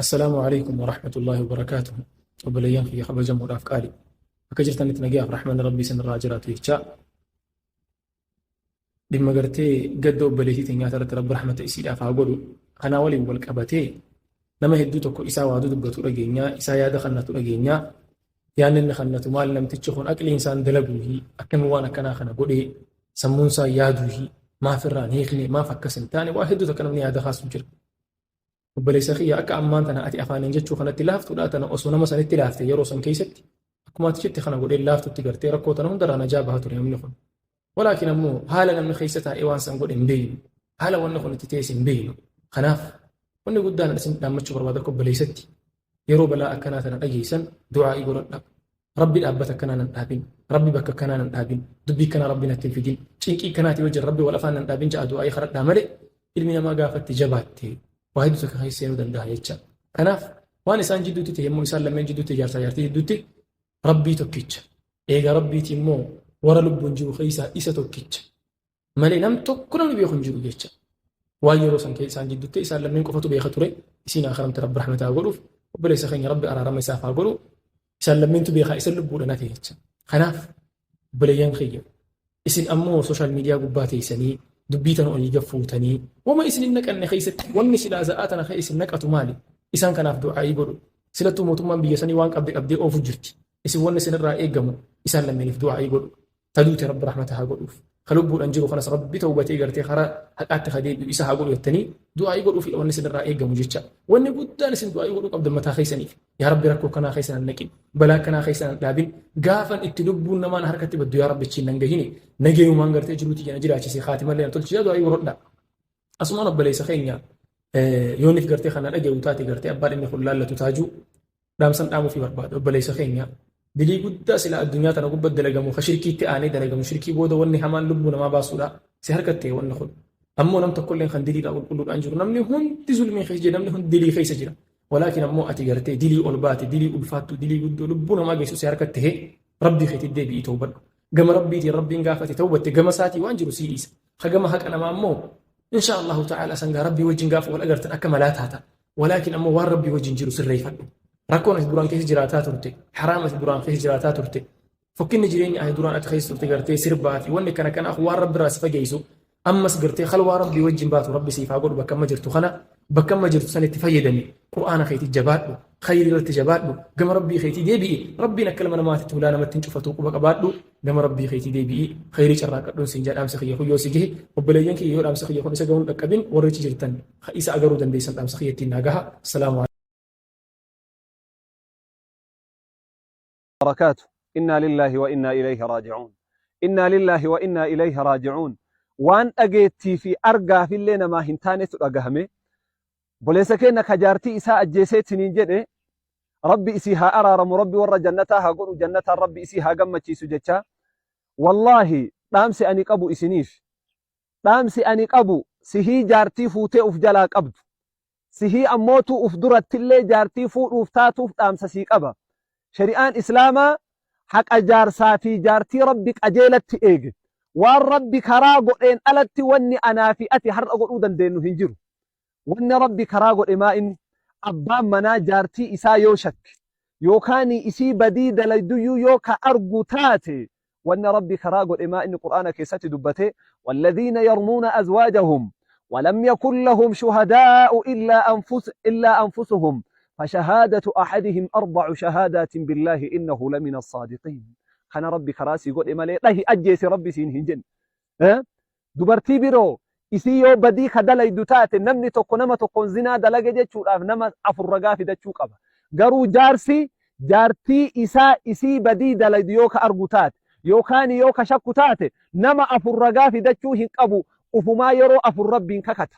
Assalaamu Aleeykum Warahmatullaahi Wabarakaatuhu Obboleeyyan kiyya kabajamoodhaaf qaali akka jirtanitti nagayaaf rahmanni rabbii isinirraa haa jiraatu jechaa dhimma gartee gadda obboleettii teenyaa irratti rabbi rahmata isiidhaaf haa godhu kanaa waliin wal qabatee nama hedduu tokko isaa waaduu dubbatu dhageenyaa isaa yaada kannatu dhageenyaa yaanni inni kannatu maal namtichi kun aqliin isaan dalaguuhi akkami waan akkanaa kana godhee sammuun isaa yaaduuhi maaf irraan hiikne maaf akkas hin taane waa hedduu tokko namni yaada kaasu jira Obboleessa kiyya akka ammaan tana ati afaaniin jechuu kanatti laaftuudha tana osoo nama sanitti laafte yeroo san keessatti akkuma ati jette kana godhee laaftutti gartee rakkoo tana hundarraa najaa baha ture namni kun. Walaakin ammoo haala namni keessa taa'ee waan san godhe hin beeynu. Haala wanni kun itti teesse hin beeynu. Kanaaf wanni guddaan isin dhaammachuu barbaada akka obboleessatti yeroo balaa akkanaa tana dhageessan du'aa'ii godhadha. Rabbi dhaabbata akkanaa nan dhaabin. Rabbi bakka akkanaa nan dhaabin. Dubbii akkanaa Rabbi natti hin fidin. Cinqii akkanaatii wajjin Rabbi wal afaan nan dhaabin ja'a du'aa'ii kadhadhaa malee ilmi namaa gaafatti jabaatte waa hedduu takka keessa seenuu danda'a jecha. Kanaaf waan isaan jidduutti ta'e immoo isaan lammeen jidduutti ijaarsaa ijaartii jidduutti Rabbii tokkicha. Eega Rabbiiti immoo warra lubbuun jiru keessaa isa tokkicha. malee nam tokko namni beeku hin jiru jecha. Waan yeroo san keessaan jidduutti isaan lameen qofatu beeka ture isiin akaramte rabbi rahmataa godhuuf obboleessa keenya rabbi araarama isaaf haa godhu isaan lammeentu beekaa isa lubbuudha nate jecha. Kanaaf obboleeyyan kiyya isin ammoo sooshaal miidiyaa gubbaa teessanii dubbii tana olii gad fuutanii wama isin hin naqanne keessatti wanni silaa za'aa tana kee isin naqatu maali isaan kanaaf du'aa'ii godhu silattuu mootummaan biyya sanii waan qabde qabdee oofu jirti isin wanni isinirraa eegamu isaan lammeeniif du'aa'ii godhu ta duute rabbi rahmata haa godhuuf ka lubbuudhan jiru kanas rabbi tawbatee gartee karaa haqaatti haa deebi'u isa haa godhu jettanii du'aa'ii godhuufidha wanni isinirraa eegamu jecha wanni guddaan isin du'aa'ii godhuu qabdan mataa keessaniif yaa rabbi rakkoo kanaa keessan hin naqin balaa kanaa keessan hin dhaabin gaafan itti lubbuun namaan harkatti baddu yaa rabbi achiin nan gahine nageenyumaan gartee jiruuti jana jiraachise kaatimallee na tolchisaa du'aa'ii godhodha asumaan obboleessa keenya yoonif gartee kana dhaga'u taate gartee abbaan inni kun laallatu taajuu Dhaamsan dhaamuufii barbaadu obboleessa keenya dilii guddaa sila addunyaa tana gubbatti dalagamu ka shirkiitti aanee dalagamu shirkii booda wanni hamaan lubbuu namaa baasuudha si harkatti wanni kun ammoo nam tokkolleen kan diliidhaa qulqulluudhaan jiru namni hundi zulmii keessa jira namni hundi dilii keessa jira walaakin ammoo ati gartee dilii ol baate dilii ulfaattu dilii guddoo lubbuu namaa geessu si harkatti hee rabbii keetti deebi'ii tawbadhu gama rabbiitiin rabbiin gaafate tawbatte gama isaatii waan jiru sii dhiisa ka gama haqa namaa ammoo insha Allahu ta'ala sangaa rabbii wajjin gaafa wal agartan akka malaa taata Walaakin ammoo waan Rabbii wajjin jiru sirreeffadhu. Rakkoon ati duraan keessa jiraataa turte, haraam ati duraan keessa jiraataa turte, fokkinni jireenya ati duraan ati keessa turte gartee sirbaa fi wanni kana kana waan Rabbi irraa si fageessu ammas gartee halwaa Rabbii wajjin baatu Rabbi siif haa godhu bakka amma jirtu kana bakka amma jirtu sanitti fayyadami Qur'aana keetii jabaadhu khayrii irratti jabaadhu gama Rabbii keetii deebi'i Rabbiin akka ilma namaatitti hulaa namatti hin cufatu quba qabaadhu Nama Rabbii keetii deebi'ii khayrii carraaqqadhuun siin jedha dhaamsi kiyya kun yoo si gahe obboleeyyan kiyya yoo dhaamsi kiyya kun isa gahuun dhaqqabin warri achi jirtan ka isa agaruu dandeessan dhaamsa kiyya ittiin naa gaha. Salaamu barakaatu innaa lillaahi wa innaa ilayhi raaji'uun innaa lillaahi wa innaa ilayhi raaji'uun waan dhageettii fi argaafillee namaa hin taanetu dhagahame Obboleessa keenna ka jaartii isaa ajjeesee siniin jedhe Rabbi isii haa araaramu Rabbi warra jannataa haa godhu jannataan Rabbi isii haa gammachiisu jechaa wallaahi dhaamsi ani qabu isiniif dhaamsi ani qabu sihii jaartii fuutee uf jalaa qabdu sihii ammootuu uf durattillee jaartii fuudhuuf taatuuf dhaamsa sii qaba shari'aan islaamaa haqa jaarsaa fi jaartii Rabbi qajeelatti eege waan Rabbi karaa godheen alatti wanni anaa fi ati har'a godhuu dandeennu hin jiru Wanna Rabbi karaa godhe maa inni? Abbaan manaa jaartii isaa yoo shakke, yookaanii isii badii dalayduyyuu yoo ka argu taate, wanna Rabbi karaa godhe maa inni Qur'aana keessatti dubbate, Walladhiina yarmuuna azwaajahum, walam yakun lahum shuhadaa'u illaa anfus, illaa anfusuhum, fashahaadatu ahadihim arbacu shahaadaatin billaahi innahu lamina assaadiqiin. Kana Rabbi karaa sii godhe malee dhahi ajjeesi Rabbi siin hin jenne. Eh? Dubartii biroo isii yoo badii ka dalaydu taate namni tokko nama tokkoon zinaa dalage jechuudhaaf nama afur ragaa fidachuu qaba. Garuu jaarsi jaartii isaa isii badii dalaydu yoo ka argu taate yookaan yoo ka shakku taate nama afur ragaa fidachuu hin qabu ufumaa yeroo afur rabbiin kakata.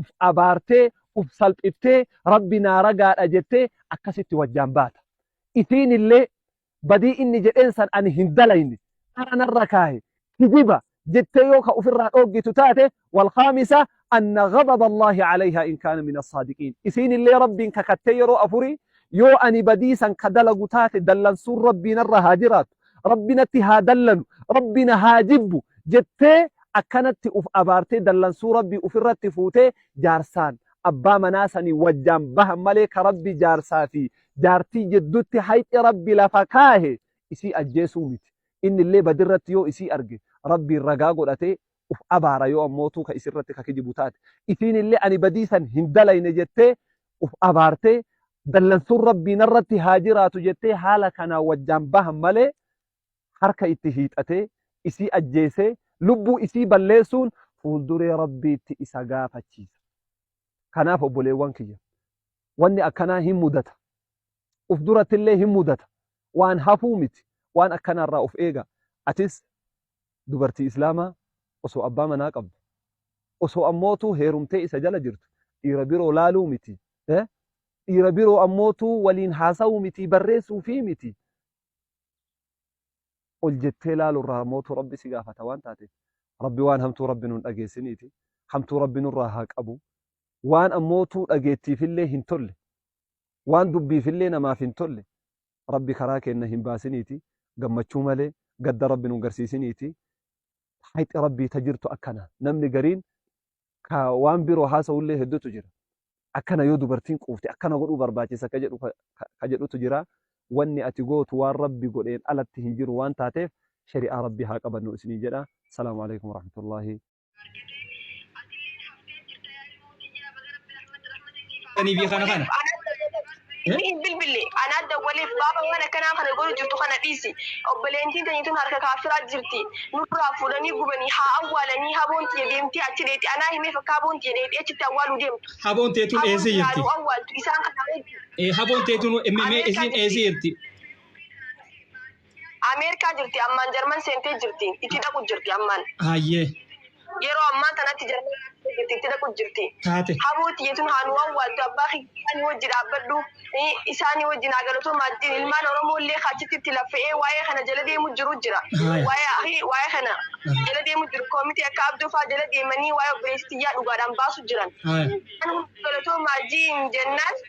uf abaartee uf salphiftee rabbi naa ragaadha jettee akkasitti wajjaan baata isiin illee badii inni jedheen san ani hin dalayne dhara narra kaahe kijiba jettee yoo ka ufirraa dhooggitu taate walkhaamisa anna ghadaba allaahi calayhaa in kaana min assaadiqiin isiin illee rabbiin kakattee yeroo afurii yoo ani badii san ka dalagu taate dallansuun rabbii narra haa jiraatu rabbi natti haa dallanu rabbi na haa jibbu jettee akkanatti uf abaartee dallansuu rabbii ufirratti fuutee jaarsaan abbaa manaa sanii wajjaan bahan malee ka rabbi jaarsaa fi jaartii jiddutti hayxi rabbi lafa kaahe isii ajjeesuu miti inni illee badirratti yoo isii arge rabbiin ragaa godhatee uf abaara yoo ammootuu ka isirratti ka kijibu taate. Isiinillee ani badii san hin dalayne jettee uf abaartee dallansuun Rabbii narratti haa jiraatu jettee haala kanaan wajjaan bahan malee harka itti hiixatee isii ajjeesee lubbuu isii balleessuun fuulduree Rabbiitti isa gaafachiisa. Kanaaf obboleewwan kiyya wanni akkanaa hin mudata. Uf durattillee hin mudata. Waan hafuu miti. Waan akkanaa irraa uf eegaa. Atis dubartii Islaamaa osoo abbaa manaa qabdu, osoo ammootuu heerumtee isa jala jirtu dhiira biroo laaluu miti, dhiira biroo ammootuu waliin haasawuu miti, barreessuufii miti, ol jettee laaluu irraa ammootuu Rabbi si gaafata waan taateef, Rabbi waan hamtuu Rabbi nu hin dhageessiniiti, hamtuu Rabbi nurraa haa qabu, waan ammootuu dhageettiif illee hin tolle, waan dubbiif illee namaaf hin tolle, Rabbi karaa keenna hin baasiniiti, gammachuu malee, gadda Rabbi nun garsiisiniiti. Hayxi Rabbii ta jirtu akkana. Namni gariin ka waan biroo haasawullee heddutu jira. Akkana yoo dubartiin quufte akkana godhuu barbaachisa ka jedhu ka jedhutu jira. Wanni ati gootu waan Rabbi godheen alatti hin jiru waan taateef shari'aa Rabbii haa qabannu isiniin jedha. Salaamu aleykum warahmatullaahi. Ani fi kana kana. Hin bilbille anaan dawwaleef baaba waan akkanaa kana godhu jirtu kana dhiisi. Obboleentiin teenye tun harka kaaffiraa jirti. Nurraa fuudhanii gubanii haa awwaalanii haboon tiyya deemtee achi dheexi anaa himeef akka haboon tiyya dheexi achitti awwaaluu deemtu. Haboon teetuun Haboon eessa tiyyaa jirti? nu awwaaltu isaan kana wajjin. Eh, Haboon teetuun mee isiin eessa jirti? Ameerikaa jirti ammaan Jarman seentee jirti itti dhaqu jirti ammaan. Hayyee. Yeroo ammaa tanatti Jarman seentee jirti itti dhaqu jirti. Taate. Haboo tiyya tun haa nu awwaaltu abbaa kiyyaani wajji dhaabbadhu isaani wajji naa galatoomaa ittiin ilmaan Oromoo illee ka achitti itti laffe'ee waayee kana jala deemu jiru jira. Haaya. Waayee ahi waayee kana jala deemu jiru koomitee akka Abdoo faa jala deemanii waayee obboleessi tiyyaa dhugaadhaan baasu jiran. Haaya. Kan hunda galatoomaa jiin jennaan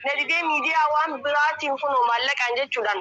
na didee miidiyaa waan biraatiin kunoo maallaqaan jechuudhaan.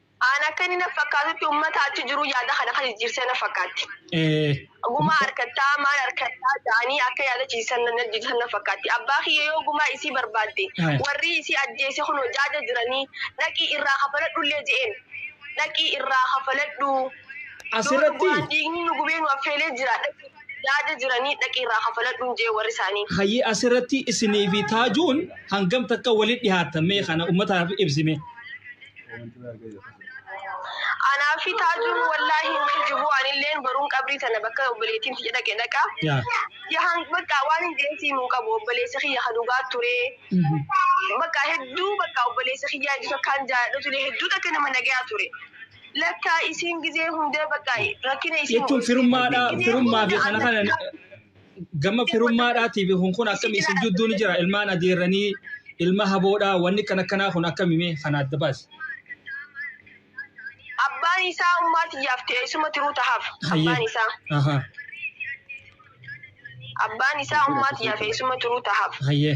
An akka inni na fakkaatutti ummata achi jiruu yaada kana kan jijjiirse na fakkaatti. Ee. Gumaa arkattaa, maal arkattaa ja'anii akka yaada ciisisan na jijjiirsan na fakkaatti. Abbaa kiyya yoo gumaa isii barbaadde, Ee. warrii isii ajjeese kunoo jaaja jiranii, dhaqii irraa kafaladhullee je'een. Dhaqii irraa kafaladhu. As Yoo irratti. dhugumaan dhiigni nu gubee nu affeelee jira, dhaqii jaaja jiranii, dhaqii irraa kafaladhuun je'e warri isaanii. Hayyee as irratti isinii fi taajuun hangam takka walitti dhihaattan mee kana ummataaf ibsi mee. Anaa fi taajuun wallaahi hin kijibu anilleen baruun qabrii tana bakka obboleettiin tiyya dhaqe dhaqa. Yaa. Yahan bakka waan hin deemsiin hin qabu obboleessi kiyya ka dhugaa ture. Bakka hedduu bakka obboleessi kiyyaa iddoo takkaan jaalladhu ture hedduu takka nama nagayaa ture. Lakka isiin gizee hunda bakka rakkina isiin Jechuun firummaadhaa firummaa fi kana kana gama firummaadhaatiif kun kun akkami isin jidduu ni jira ilmaan adeerranii ilma haboodhaa wanni kan akkanaa kun akkami mee kan adda baase. Abbaan isaa ummaa tiyyaaf ta'e isuma tiruu tahaaf. Abbaan isaa. Ahaa. Abbaan isaa ummaa tiyyaaf ta'e isuma tiruu tahaaf. Hayyee.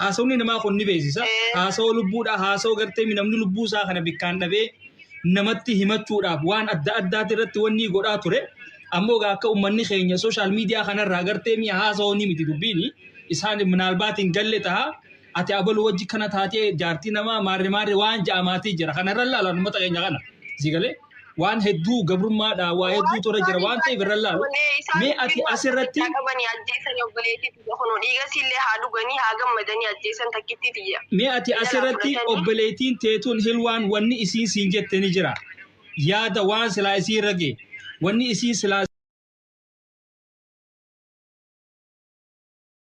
Haasawni namaa kun ni beeksisa. Haasawa lubbuudha. Haasawa gartee namni lubbuu isaa kana bikkaan dhabee namatti himachuudhaaf waan adda addaati irratti wanni godhaa ture. Ammoo egaa akka uummanni keenya sooshaal miidiyaa kanarraa gartee mi'a haasawoo ni miti dubbiini. Isaan minaalbaat hin galle ta'a. Ati abaluu wajji kana taatee jaartii namaa maarre maarre waan ja'amaatii jira. Kanarra ilaalan uummata keenya kana. Sii galee? waan hedduu gabrummaadhaa waa hedduu tura jira waan ta'eef irra laalu mee ati asirratti qabanii ajjeesanii obboleettii tiyya kunoo dhiigasiillee haa dhuganii haa gammadanii ajjeesan takkittii tiyya. mee ati asirratti obboleettiin teetuun hilwaan wanni isiin siin jette ni jira yaada waan silaa isii irra ga'e wanni isii silaa